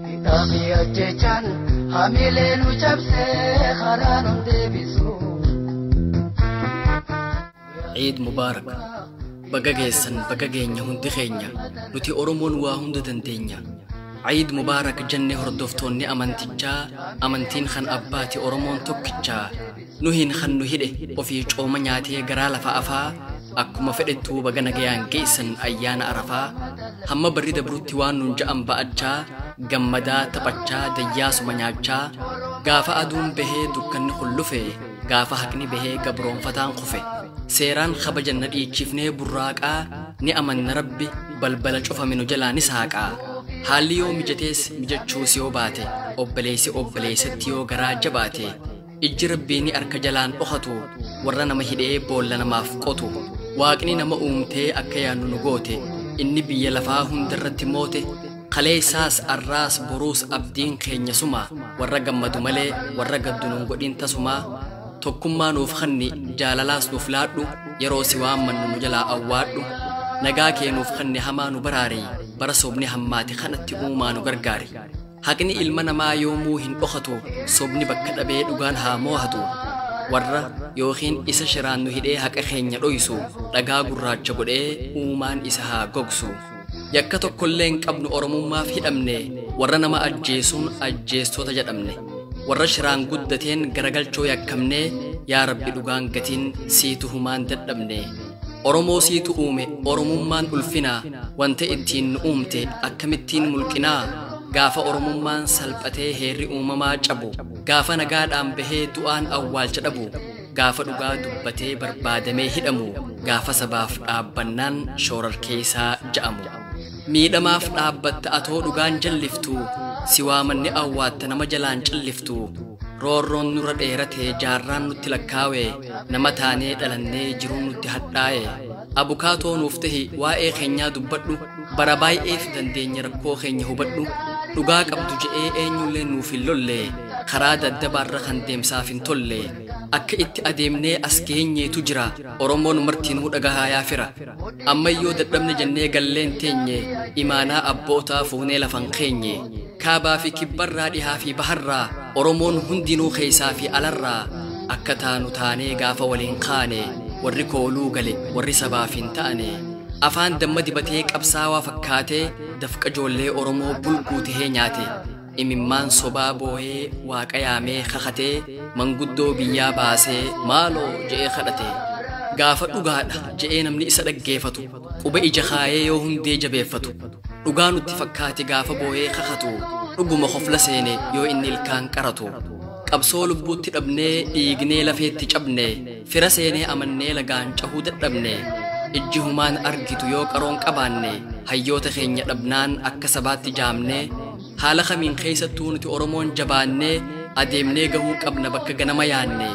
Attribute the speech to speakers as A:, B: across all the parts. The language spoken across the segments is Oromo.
A: Hidhaa fi ajjechaan hamilee nu cabsee karaa nu deebisu.
B: Eid Mubarak. Baga geessan baga geenya hundi keenya nuti Oromoon waa hunda dandeenya. Eid Mubarak jenne hordoftoonni amantichaa amantiin kan abbaati Oromoon tokkichaa Nuhiin kan nu hidhe ofii cooma nyaatee garaa lafa afaa akkuma fedhettuu baga nagayaan geessan ayyaana arafaa hamma barri dabrutti waan nuun ja'an ba'achaa gammadaa taphachaa dayyaasuma nyaachaa gaafa aduun bahee dukkanni kun lufe gaafa haqni bahee gabroonfataan kufe seeraan kabajan na dhiichifnee burraaqaa ni amanna rabbi balbala cufame nu jalaa ni saaqaa haalli yoo mijatees mijachuus yoo baate obboleessi obboleessatti yoo garaa jabaate Ijji rabbii ni arka jalaan dhokatu warra nama hidhee boolla namaaf qotu waaqni nama uumtee akka yaannu nu goote inni biyya lafaa hundarratti moote kaleessaas arraas boruus abdiin keenya suma warra gammadu malee warra gaddu nun godhin tasumaa tokkummaa nuuf kanni jaalalaas nuuf laadhu yeroo si waammannu nu jalaa awwaadhu nagaa kee nuuf kanni hamaa nu baraari bara sobni hammaate kanatti uumaa nu gargaari. Haqni ilma namaa yoomuu hin dhokatu, sobni bakka dhabee dhugaan haa moohatu. Warra yookiin isa shiraan nu hidhee haqa keenya dhoysu, dhagaa gurraacha godhee uumaan isa haa gogsu. Yakka tokkollee hin qabnu Oromummaaf hidhamne, warra nama ajjeesuun ajjeestota jedhamne. Warra shiraan guddateen garagalchoo yakkamne, yaa Rabbi dhugaan gatiin sii tuhumaan dadhabne. Oromoo siitu uume Oromummaan ulfinaa Wanta ittiin nu uumte akkamittiin mulqinaa Gaafa Oromummaan salphatee heerri uumamaa cabu Gaafa nagaadhaan bahee du'aan awwaalcha dhabu Gaafa dhugaa dubbatee barbaadamee hidhamu Gaafa sabaaf dhaabbannaan shoorarkeessaa ja'amu Miidhamaaf dhaabbatta atoo dhugaan jalliftu si waamanne awwaatta nama jalaan calliftu roorroon nurra dheerate jaarraan nutti lakkaawe nama taanee dhalannee jiruun nutti hadhaa'e abukaatoo nuuf tahi waa'ee keenyaa dubbadhu bara baay'eef dandeenya rakkoo keenya hubadhu dhugaa qabdu je'ee eenyullee nuuf hin lolle karaa daddabaarra kan deemsaaf hin tolle akka itti adeemnee as geenyeetu jira Oromoon martiinuu dhagahaa yaa fira. Ammayyoo dadhabne jennee galleen teenye imaanaa abbootaa fuunee lafan keenye. Kaabaa fi kibbarraa dhihaa fi baharraa Oromoon hundinuu keessaa fi alarraa akka taanu taanee gaafa waliin kaane warri kooluu gale warri sabaaf hin taane. Afaan damma dibatee qabsaawaa fakkaatee dafqa joollee Oromoo bulguu tahee nyaate. imimmaan sobaa booyee waaqa yaamee kakatee manguddoo biyyaa baasee maaloo je'ee kadhatee gaafa dhugaadha je'ee namni isa dhaggeeffatu quba ija kaayee yoo hundee jabeeffatu dhugaa nutti fakkaate gaafa booyee kakatu dhuguma kofla seene yoo inni ilkaan qaratu qabsoo lubbuutti dhabnee dhiignee lafeetti cabne fira seenee amannee lagaan cahuu dadhabne ijji humaan argitu yoo qaroon qabaanne hayyoota keenya dhabnaan akka sabaatti jaamne Haala kamiin keessattuu nuti Oromoon jabaannee adeemnee gahuu qabna bakka ganama yaanne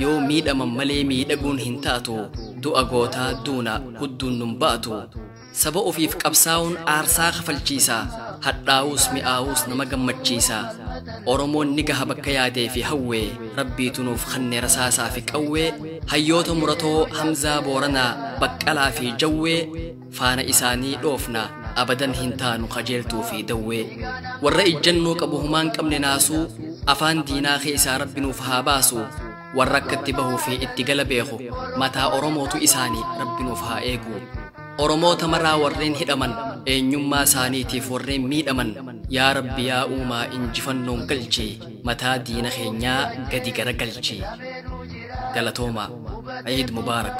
B: yoo miidhaman malee miidhaguun hin taatu du'a gootaa duuna hudduun nun ba'atu saba ofiif qabsaa'uun aarsaa kafalchiisa hadhaa'uus mi'aawuus nama gammachiisa oromoon ni gaha bakka yaadee fi hawwee rabbiitu nuuf kannee rasaasaa fi qawwee hayyoota muratoo hamzaa booranaa baqqalaa fi jawwee Faana isaanii dhoofna abadan hin taanu kajeeltuu fi dawwee. Warra ijjannoo qabu humaan qabne naasuu afaan diinaa keessaa rabbi nuuf haa baasu. Warra akka itti bahuu fi itti gala beeku mataa Oromootu isaanii rabbi nuuf haa eegu. Oromoota maraa warreen hidhaman eenyummaa isaaniitiif warreen miidhaman yaa rabbi yaa uumaa injifannoon galchi mataa diina keenyaa gadi gara galchi. Galatoomaa. Eid Mubaarak.